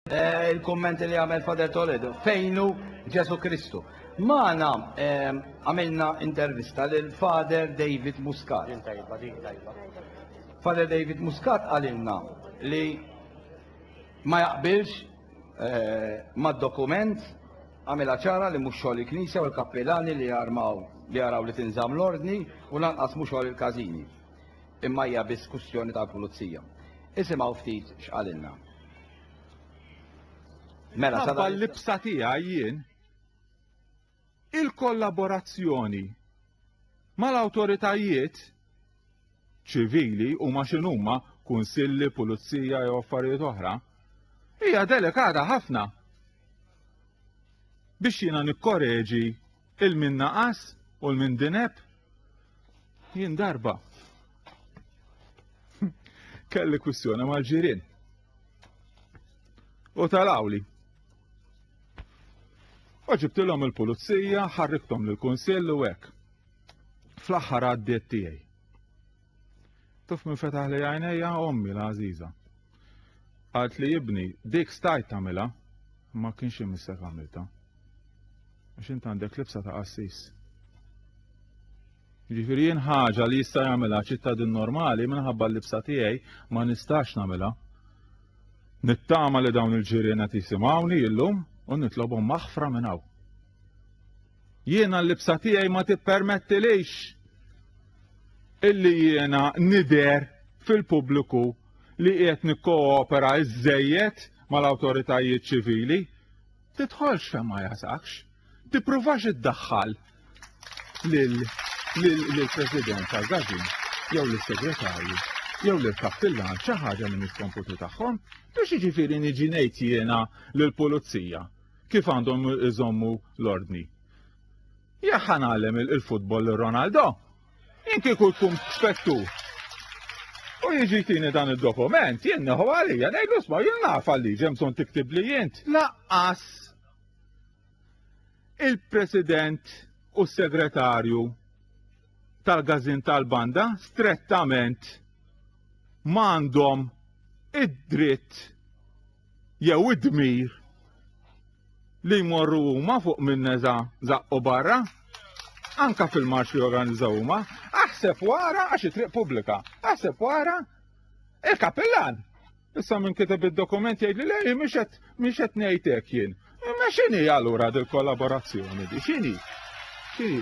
Eh, il-kommenti li għamel Fader Toledo, fejnu Ġesu Kristu. Maħna eh, għamilna intervista lil Fader David Muscat. Fader David Muscat għalilna li ma jaqbilx eh, ma dokument għamela ċara li mux xogħol il-Knisja u l-kappilani li jarmaw li jaraw li tinżam l-ordni u lanqas mux xogħol il-kazini. Imma hija biss kwistjoni tal-pulizija. Isimgħu ftit x'qalilna. Mela Ħabba l-libsa tiegħi jien il-kollaborazzjoni mal-awtoritajiet ċivili huma x'inhuma kunsilli, pulizija jew affarijiet oħra, hija delikata ħafna biex jiena nikkoreġi il min naqas u l min dineb jien darba kelli kwistjoni mal-ġirien. U tal-awli. U ġibtilhom il-pulizija, ħarriktom lill-kunsill u hekk. Fl-aħħar għaddiet tiegħi. Tuf minn fetaħ li għajnejja ommi la għażiża. Għalt li jibni dik stajt tagħmilha ma kienx imissek għamilta. Għax int għandek libsa ta' qassis. Ġifieri jien ħaġa li jista' jagħmilha ċittadin normali minħabba l-libsa tiegħi ma nistax nagħmilha. Nittama li dawn il-ġirien qed jisimgħuni illum u nitlobhom maħfra minn hawn. Jiena l-libsa tiegħi ma tippermettilix illi jiena nidher fil-pubbliku li qiegħed nikkoopera iżżejjed mal-awtoritajiet ċivili. Tidħolx fejn ma jasakx. Tippruvax iddaħħal lill-President tal-Gazin jew lis-Segretarju jew lil kappillan xi ħaġa li mhix komputu tagħhom, biex jiġifieri niġi ngħid jiena lill-pulizija kif għandhom iżommu l-ordni. Jekk ħanallem il-futbol Ronaldo, jien kieku tkun spettu. U jiġi tini dan il-dokument, jien neħu għalija, nejdu sma, jien naf għalli ġemson tiktib li jint, laqqas il-president u segretarju tal-gazin tal-banda strettament mandom id-dritt jew id-dmir li jmorru huma fuq min-neża' żaqqu barra, anka fil-marċ li organizzaw huma, aħseb wara għax it-triq pubblika, aħseb wara il-kapillan. Issa minn kiteb id-dokument jgħid li lej mhix qed ngħid hekk jien. Ma xini allura dil kollaborazzjoni di? Xini? Xini?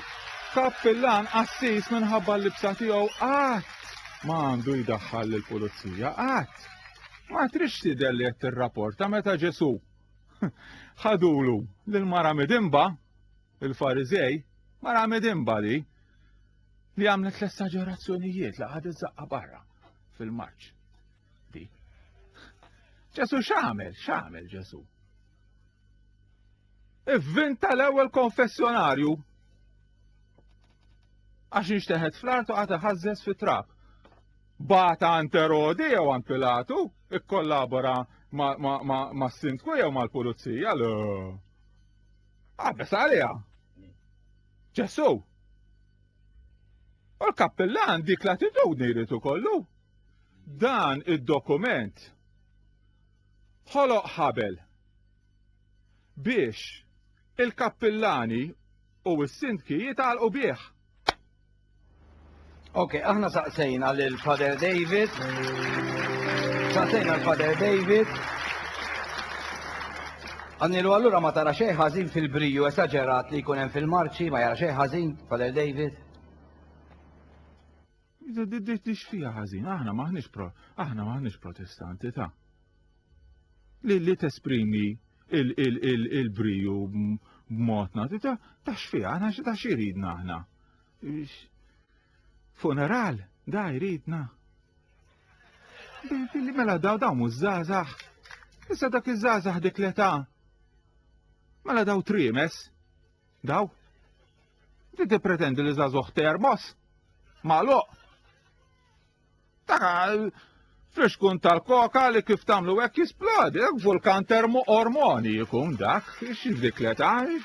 Kappillan assis minħabba l-libsa tiegħu qatt ma għandu jdaħħal lill-pulizija, qatt. Ma trix tidher li qed tirrapporta meta Ġesu ħadulu lil mara midimba, il-Farizej, mara midimba li li għamlet l-esagerazzjonijiet li għadet zaqqa barra fil-marċ. Di. Ġesu x'għamel? X'għamel Ġesu? Ivvinta l-ewwel konfessjonarju. Għax nixteħed fl-art u għata ħażżeż fit-trab. Bata għand Erodi jew għand Pilatu, ikkollabora ma' sindku jew mal-pulizija. l Għabes għalija. Ġesu. U l-kappillan dik l-attitudni jrid kollu. Dan id-dokument ħoloq ħabel biex il-kappillani u s-sindki jitgħalqu bih. Ok, aħna saqsejna lil Father David. Saqsejna l-Father David. Għannilu għallura ma tara xej ħażin fil-briju esagerat li jkun hemm fil-marċi, ma jara xej ħażin, Father David. Tixfija ħażin, aħna maħniex pro, aħna maħniex protestanti ta' li li tesprimi il-briju b'modna ta' ta' xfija, aħna ta' xiridna aħna. Funeral, da jridna. Billi mela daw daw mużżazax. Issa dak iż-żazax dik l-età. Mela daw trimes. Daw? Ti tippretendi li żagħżugħ termos? Magħluq? Taka friskun tal-koka li kif tagħmlu hekk jisplodi, hekk vulkan termo ormoni jkun dak, x'dik li tagħri.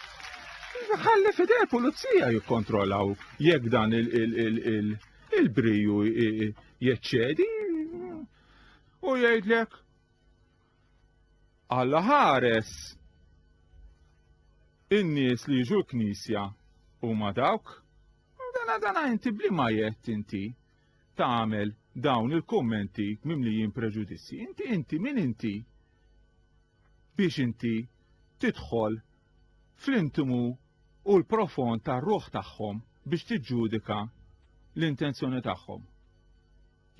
Ħalli fidej pulizija jikkontrollaw jekk dan il-briju jeċċedi u jgħidlek Alla ħares in-nies li jiġu l-Knisja huma dawk. Dana dana inti bliema jett inti tagħmel dawn il-kummenti mimlijin preġudizzi. Inti inti min inti biex inti tidħol fl-intimu u l-profond tar-ruħ tagħhom biex tiġġudika l-intenzjoni tagħhom.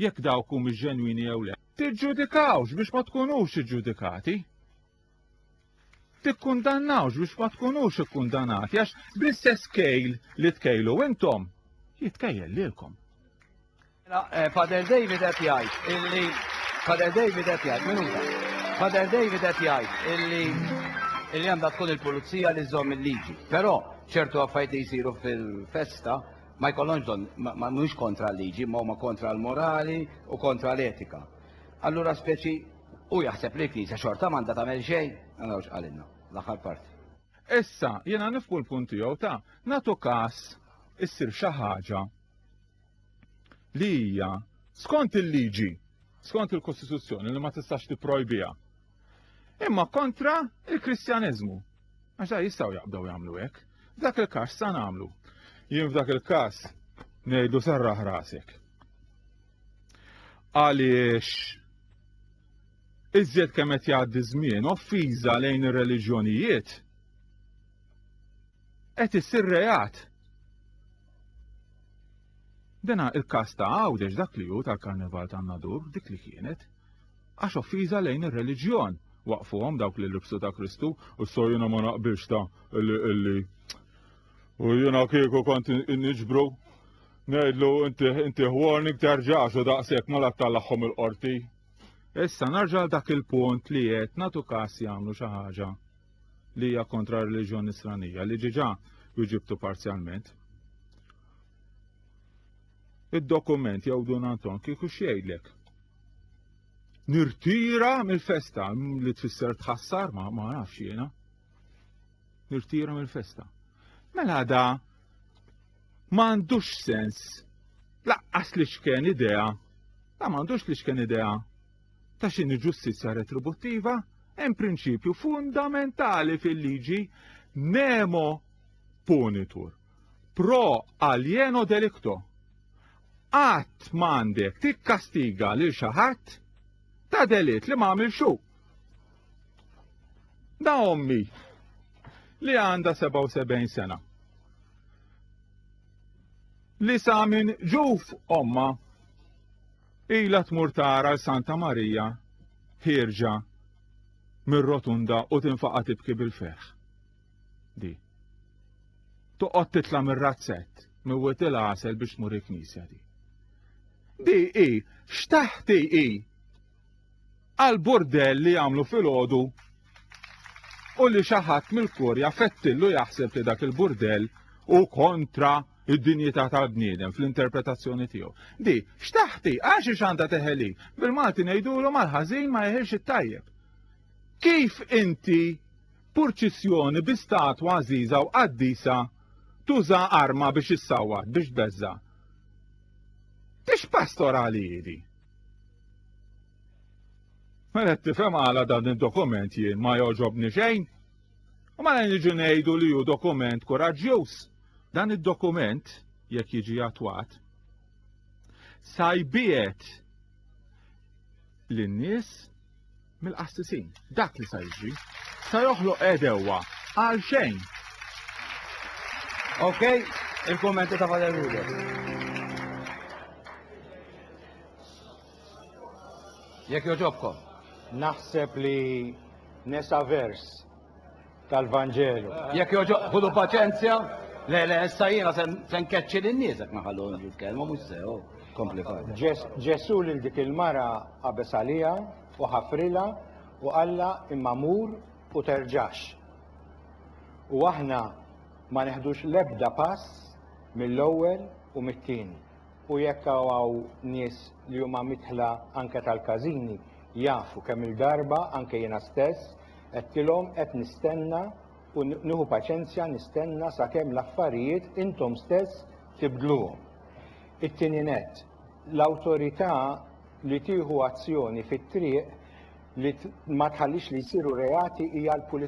jekk dawk humiex ġenwini jew le. Tiġġudikawx biex ma tkunux iġġudikati. Tikkundannawx biex ma tkunux ikkundanati għax bl-istess kejl li tkejlu intom jitkejjel lilkom. Mela, eh, Father David qed jgħid illi Father David qed jgħid minuta. Father David qed jgħid illi illi għandha tkun il-pulizija li żomm il-liġi. Però ċertu affajti jsiru fil-festa ma jkollhomx bżonn, ma mhux kontra l-liġi, imma huma kontra l-morali u kontra l-etika. Allura speċi u jaħseb li l-Knisja xorta m'għandha tagħmel xejn, naraw x'qalilna l-aħħar parti. Issa, jiena nifhmu l-punt tiegħu ta' nagħtu każ issir xi ħaġa li hija skont il-liġi, skont il-Kostituzzjoni li ma tistax tipprojbiha. Imma kontra il-Kristjaneżmu, Għax da jistgħu jaqbdew jagħmlu hekk. F'dak il-każ sa nagħmlu. Jien f'dak il-każ ngħidu sarraħ rasek. Għaliex iżjed kemm qed jgħaddi żmien offiża lejn ir-reliġjonijiet qed issir reat. Dena il-kas ta' għawdex dak li hu tal-karnival ta' nadur dik li kienet. Għax offiża lejn ir-reliġjon. Waqqfuhom dawk li libsu ta' Kristu. Issa jiena ma naqbilx ta' illi u jiena kieku kont niġbru ngħidlu inti warning terġax u daqshekk ma la tallagħhom il-qorti. Issa narġa' dak il-punt li qed nagħtu każ jagħmlu xi ħaġa li hija kontra r-reliġjon Nisranija li ġiġa wieġibtu parzjalment. id-dokument jew Dun Anton kieku x'jgħidlek? Nirtira mill-festa li tfisser tħassar ma ma nafx jiena. Nirtira mill-festa. Mela da m'għandux sens laqqas li xken idea da m'għandux li xken idea ta' xini ġustizzja retributtiva hemm prinċipju fundamentali fil-liġi nemo punitur. pro alieno delicto. Qatt m'għandek tikkastiga lil xi ħadd ta' delitt li m'għamil xu. Da ommi li għandha 77 sena. Li sa minn ġuf omma ila tmur tara l-Santa Marija ħirġa mir-rotunda u tinfaqa tibki bil-ferħ. di. Toqgħod titla' mir-razzett, miwwet il-għasel biex tmur il-knisja di. Di i, xtaħti i, għal-burdell li jagħmlu fil-ħodu u li xaħat mill-kurja fettillu jaħseb li dak il-burdell u kontra id-dinjità tal-bniedem fl-interpretazzjoni tiegħu. Di, xtaħti, għax xanda teħeli, bil-Malti ngħidulu mal-ħażin ma jeħilx it-tajjeb. Kif inti Purċissjoni bi statwa għażiża u qaddisa tuża arma biex issawwat, biex tbeżża'. Tix pastorali hi di? Mela tifhem għala dan id-dokument jien ma jogħġobni xejn. U mela niġu ngħidu li hu dokument kuraġġjuż. Dan id-dokument, jekk jiġi attwat, sajbiet lin-nies mill-qassisin. Dak li sa jiġri. Sa joħloq edewwa għal xejn. Ok, il-kommenti ta' Father Ruder. Jekk joġobkom. Naħseb li nesa vers tal-Vanġelu. Jekk jogħġob ħudu paċenzja. Le, le, issa jiena se nkeċċi lin-nies jekk ma ħallhomx jitkellmu mhux sew. Oh, kompli fadda. Ġesù lil dik il-mara qabeż għaliha u ħafrilha u qallha imma mur u terġax. U aħna ma neħdux l-ebda pass mill-ewwel u mit-tieni. U jekk hawn nies li huma midħla anke tal-każini jafu kemm-il darba anke jiena stess Għedtilhom qed nistenna u nieħu paċenzja nistenna sakemm l-affarijiet intom stess tibdluhom. It-tieni nett, l-awtorità li tieħu azzjoni fit-triq li ma tħallix li jsiru reati hija l-pulizija.